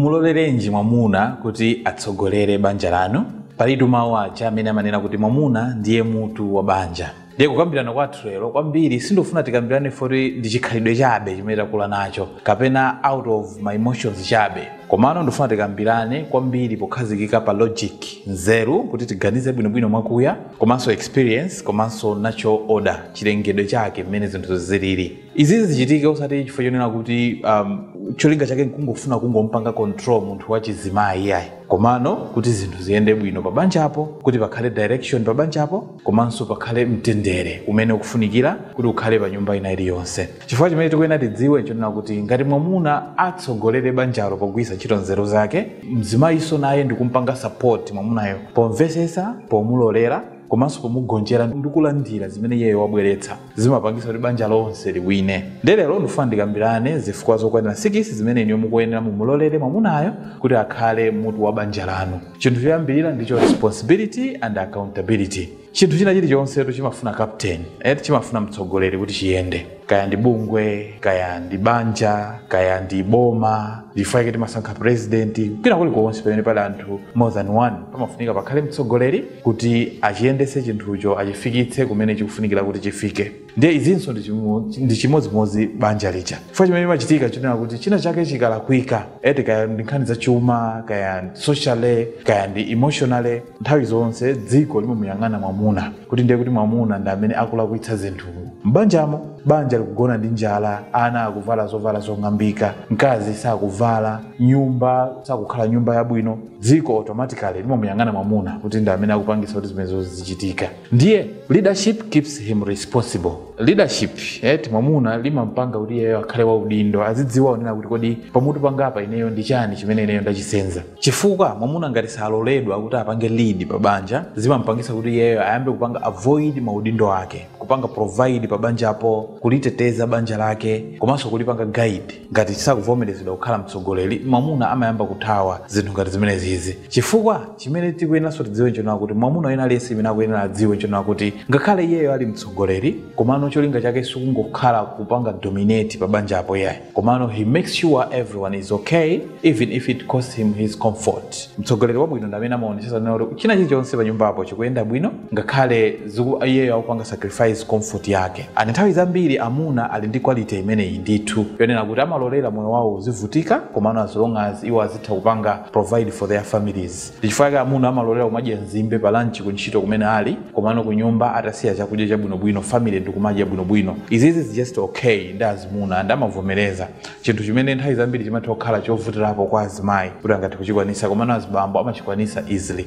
Mumulolerenji mwamuna kuti atsogolere banja lanu? Palitu mawu aja amene amanena kuti mwamuna ndiye mutu wa banja. Ndiye kukambirana kwathu lero kwambiri sindikufuna tikambirane poti ndi chikhalidwe chabe chimene takula nacho kapena out of my emotions chabe komano ndikufuna tikambirane kwambiri pokhazikika pa logic nzeru kuti tiganize bwinobwino mwakuya komanso experience komanso natural order chilengedwe chake mmene zinthu zilili izi zichitike osati chifukwa chonena kuti cholinga chake nkungofuna kungompanga control munthu wachizimayi iyayi komano kuti zinthu ziyende bwino pa banjapo kuti pakhale direction pa banjapo komanso pakhale mtendere umene ukufunikira kuti ukhale pa nyumba ina iliyonse chifukwa chimene tikuyenera tidziwe chonena kuti ngati mwamuna atsogolere banjalo pogwiritsa ntchito nzeru zake mzimayinso naye ndikumpanga support mwamunayo pomvesesa pomulolera komanso pomugonjera ndi kulandira zimene iyeyo wabweretsa zimapangisa kuti banja lonse liwine nde lero ndifuna ndikambirane zifukwa zokwanira sikisi zimene iniyo mukuyenera mumulolere mwamunayo kuti akhale mutu wa banja lanu chinthu choyambirira ndicho responsibility and accountability chinthu china chilichonsetu chimafuna captain eti chimafuna mtsogoleri kuti chiyende kaya ndi bungwe kaya ndi banja kaya ndi boma chifukwa chake timasankha president kwina kulikonse pamene pali anthu more than one pamafunika pakhale mtsogoleri kuti achiyendetse chinthucho achifikitse kumene chikufunikira kuti chifike ndiye izinso ndi chimodzimodzi banja lija chifukwa chimene chimachitika chonena kuti china chake chikalakwika eti kaya ndi nkhani za chuma kaya socially kaya ndi emotionally nthawi zonse dziko limamuyang'ana mwamuna kuti ndiye kuti mwamuna ndi amene akulakwitsa zinthu m'banjamo banja likugona ndi njala ana akuvala zovala zong'ambika mkazi sakuvala nyumba sakukhala nyumba yabwino dziko automatically limamuyang'ana mwamuna kuti ndi amene akupangisa kuti zimenezo zichitika ndiye leadership keeps him responsible leadership eti mwamuna limampanga kuti iyeyo akhale wa udindo azidziwa kunena kuti kodi pamutu pangapa ineyo ndi chani chimene ineyo ndachisenza chifukwa mwamuna ngati saloledwa kuti apange lead pa banja zimampangisa kuti iyeyo ayambe kupanga avoid maudindo ake kupanga provide pa banjapo kuliteteza banja lake komanso kulipanga guide ngati sakuvomerezedwa kukhala mtsogoleri mwamuna amayamba kuthawa zinthu ngati zimenezizi chifukwa chimene tikuyeneranso tidziwe nchonena kuti mwamuna wina aliyense chimene akuyenera adziwe nchonena kuti ngakhale iyeyo ali mtsogoleri komano cholinga chake sikungokhala kupanga dominate pa banjapo iyayi komano he makes sure everyone is okay even if it costs him his comfort mtsogoleri wabwino ndi amene amaonetsetsa kuti china chilichonse pa nyumbapo chikuyenda bwino ngakhale iyeyo akupanga sacrifice comfort yake and nthawi zambiri amuna ali ndi quality imeneyi ndithu yonena kuti amalolera moyo wawo uzivutika komano as long as iwo azitha kupanga provide for their families ndichifukwa chake amuna amalolera kumadya nzimbe pa lunch kuntchito kumene ali komano kunyumba atasiya chakudya chabwinobwino family ndikumadya bwinobwino izizi is just okay ndi azimuna and amavomereza chinthu chimene nthawi zambiri chimatha kukhala chovutirapo kwa azimayi kuti angathe kuchikwanisa komano azibambo amachikwanisa easily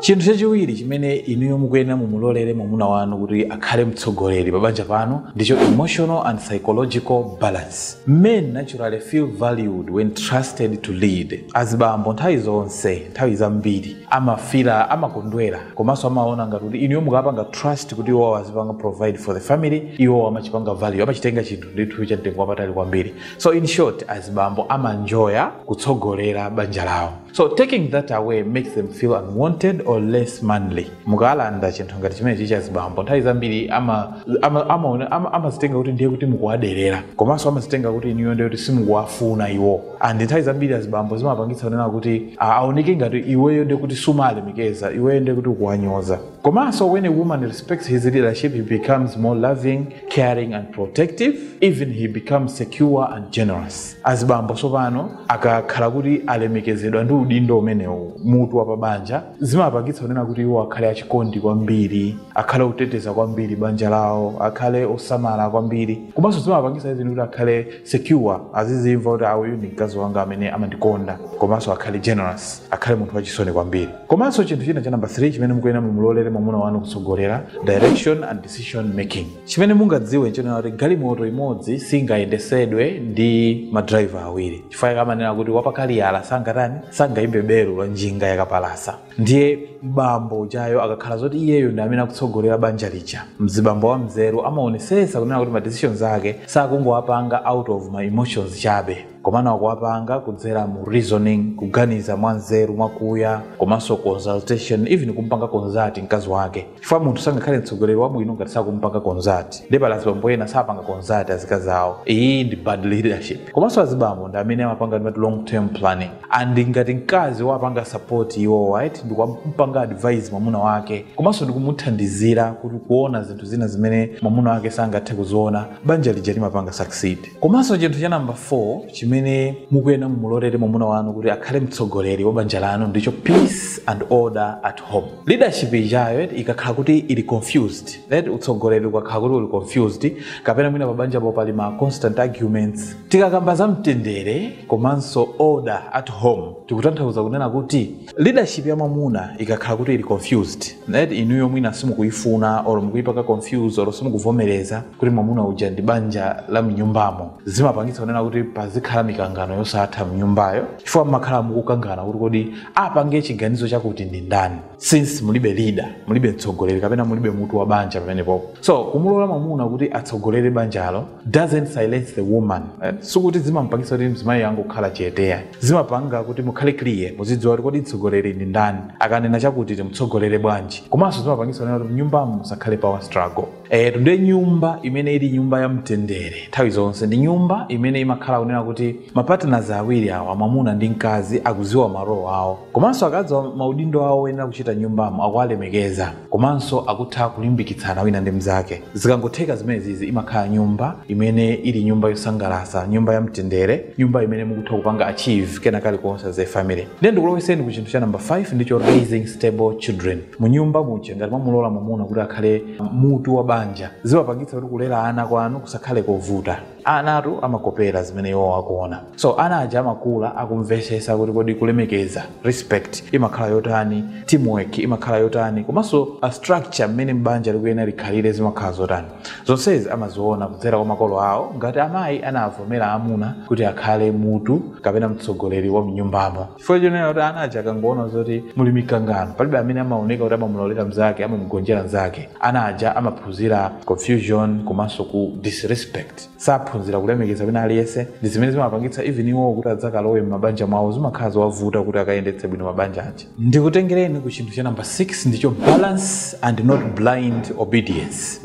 chinthu chachiwiri chimene inuyo mukuyenera mumulolere mwamuna wanu kuti akhale mtsogoleri pa banja panu ndicho emotional and psychological balance men naturally feel valued when trusted to lead azibambo nthawi zonse nthawi zambiri amafila amakondwera komanso amaona ngati kuti inuyo mukawapanga trust kuti iwowo azipanga provide for the family iwowo amachipanga value amachitenga chinthu ndithu cha mtengo wapatali kwambiri so in short azibambo amanjoya kutsogolera banja lawo so taking that away makes them feel unwanted or less manly mukalanda chinthu ngati chimenechi cha azibambo nthawi zambiri ama- ama- amaona- ama- amazitenga kuti ndiye kuti mukuwaderera komanso amazitenga kuti inuyo ndiye kuti simukuwafuna iwowo and nthawi zambiri azibambo zimapangitsa kunena kuti ah, aoneke ngati iweyo ndiye kuti suwalemekeza iweyo ndiye kuti ukuwanyoza komanso when a woman respects his leadership he becomes more loving caring and protective even he becomes secure and generous azibambo tsopano akakhala kuti alemekezedwa ndi udindo umenewu mutu wa pabanja zimapangitsa kunena kuti iwo akhale achikondi kwambiri akhale oteteza kwambiri banja lawo akhale osamala kwambiri komanso zimapangitsa izi kuti akhale secure azizimva kuti a uyu ndi mkazi wanga amene amandikonda komanso akhale generous akhale munthu wachisoni kwambiri komanso chinthu china cha namba 3 chimene mukuyenera mumulolere mwamuna wanu kutsogolera direction and decision making chimene mungadziwe nchonena kuti galimoto imodzi singayendesedwe ndi madrayiva awiri chifukwa amanena kuti wapakaliyala sangatani sangayimbe belu la njinga yakapalasa ndiye bambo ujayo akakhala zoti iyeyo ndi amene akutsogolera banja lija mzibambo wa mzeru amaonesesa kunena kuti ma decisions ake sakungowapanga out of ma emotions chabe komano akuwapanga kudzera mu reasoning kuganiza mwa mzeru mwakuya komanso consultation even kumpanga consult mkazi wake chifukwa munthu sangakhale mtsogoleri wabwino ngati sakupanga consult nde pali azibambo ena sapanga consult azikazi awo iyi ndi bad leadership komanso azibambo ndi amene amapanga ndimati long term planning and ngati mkazi wawapanga support iwo right ndikumpanga advise mwamuna wake komanso ndikumuthandizira kuti kuona zinthu zina zimene mwamuna wake sangathe kuziona banja lija limapanga succeed komanso chinthu cha namba 4 chimene mukuyenera mumulolere mwamuna wanu kuti akhale mtsogoleri wa banja lanu ndicho peace and order at home leadership ijayo eti ikakhala kuti ili confused eti utsogoleri ukakhala kuti uli confused kapena mwina pabanjapo pali ma constant arguments tikakamba za mtendere komanso order at home tikutanthauza kunena kuti leadership ya mwamuna ikakhala kuti ili confused eti inuyo mwina simukuyifuna or mukuyipanga confuse or simukuvomereza kuti mwamuna uja ndi banja la mnyumbamo zimapangitsa kunena kuti pazikhala mikangano yosatha mnyumbayo chifukwa mmakhala mukukangana kuti kodi apange chiganizo chakuti ndi ndani since mulibe leader mulibe mtsogoleri kapena mulibe mutu wa banja pamenepopo so kumulola mwamuna kuti atsogolere banjalo doesn't silence the woman eh? sikuti zimampangisa kuti mzimayi angokhala cheteya zimapanga kuti mukhale clear muzidziwa kuti kodi mtsogoleri ndi ndani akanena chakuti timtsogolere bwanji komanso zimapangisa kunena kuti mnyumbamo musakhale power struggle Etu nde nyumba imene ili nyumba ya mtendere nthawi zonse ndi nyumba imene imakhala kunena kuti mapatinazi awiri awa mwamuna ndi mkazi akuziwa ma role awo komanso akadziwa maudindo awo oyenera kuchita mnyumbamo akuwalemekeza komanso akutha kulimbikitsana wina ndi mnzake zikangotheka zimenezizi imakhala nyumba imene ili nyumba yosangalasa nyumba ya mtendere nyumba imene mukutha kupanga achieve kena kalikonse as a family ndiye ndikuloweseni ku chinthu cha number 5 ndicho raising stable children munyumba muja ngati mwamulola mwamuna kuti akhale mutu wa banja zimapangitsa kuti kulera ana kwanu kusakhale kovuta anatu amakopera zimene iwo akuona so ana aja amakula akumvesesa kuti kodi kulemekeza respect imakhala yotani teamwork imakhala yotani komanso structure mmene mbanja likuyena likhalire zimakhala zotani zonsezi amaziona kudzera kwa makolo awo ngati amayi anavomera amuna kuti akhale mutu kapena mtsogoleri wa mnyumbamo chifukwa chonena kuti ana aja akangoona zoti muli mikangano palibe amene amaoneka kuti amamulolera mzake amamugonjera mzake ana aja amaphunzira confusion komanso ku disrespect saphunzira kulemekeza wina aliyense ndi zimene zimapangitsa even iwowo kuti adzakalowe m'mabanja mwawo zimakhala zowavuta kuti akayendetse bwino mabanja aja ndikutengereni ku chinthu cha namba 6 ndicho balance and not blind obedience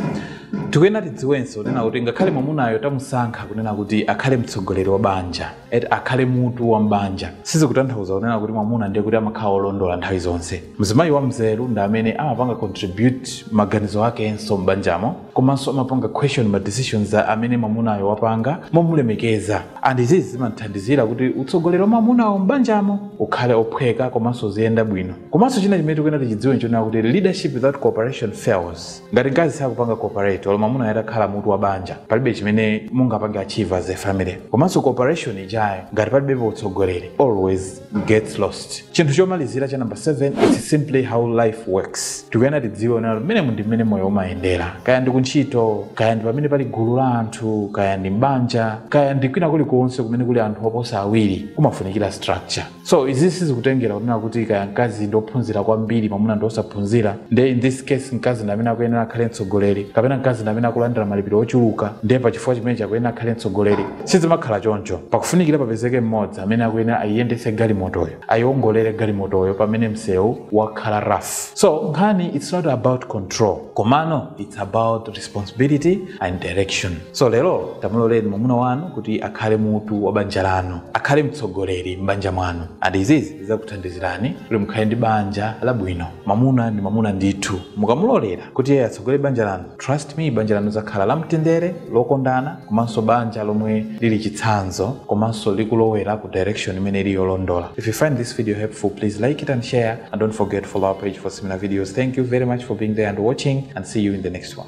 tikuyena tidziwenso kunena kuti ngakhale mwamunayo tamusankha kunena kuti akhale mtsogoleri wa banja eti akhale mutu wa m'banja sizikutanthauza kunena kuti mwamuna ndiye kuti amakhala wolondola nthawi zonse mzimayi wa mzeru ndi amene amapanga contribute maganizo akenso m'banjamo komanso amapanga question ma decisions a- amene mwamunayo wapanga momulemekeza and izizi zimamthandizira kuti utsogoleri wa mwamunawo m'banjamo ukhale ophweka komanso uziyenda bwino komanso china chimene tikuyenera tichidziwe nchonena kuti leadership without cooperation fails ngati mkazi sakupanga cooperate olo mamuna atakhala mutu wa banja palibe chimene mungapange achieve as a family komanso cooperation ijayo ngati palibe utsogoleri always gets lost chinthu chomalizira cha number 7 its simply how life works tikuyena tidziwe kunena kuti mmenemu ndi mmene moyo umayendera kaya ndi kuntchito kaya ndi pamene pali gulu la anthu kaya ndi mbanja kaya ndi kwina kulikonse kumene kuli anthu oposa awiri kumafunikira structure so izizi sizikutengera kunena kuti kaya mkazi ndi ophunzira kwambiri mwamuna ndi osaphunzira nde in this case mkazi ndi amene akuyenera akhale mtsogoleri kapena mkazi ndi amene akulandira malipiro ochuluka nde pa chifukwa chimenecho akuyenera akhale mtsogoleri sizimakhala choncho pakufunikira papezeke mmodzi amene akuyenera ayiyendetse galimotoyo ayiwongolere galimotoyo pamene msewu wakhala rough so nkhani it's not about control komano it's about responsibility and direction so lero tamulolereni mwamuna wanu kuti akhale mutu wa banja lanu akhale mtsogoleri m'banja mwanu and izizi zizakuthandizirani kuti mukhale ndi banja labwino mwamuna ndi mwamuna ndithu mukamulolera kuti iye atsogolere banja lanu trust me banja lanu lizakhala lamtendere lokondana komanso banja lomwe lili chitsanzo komanso likulowera ku direction imene ili yolondola if you find this video helpful please like it and share and don't forget to follow our page for similar videos thank you very much for being there and watching and see you in the next one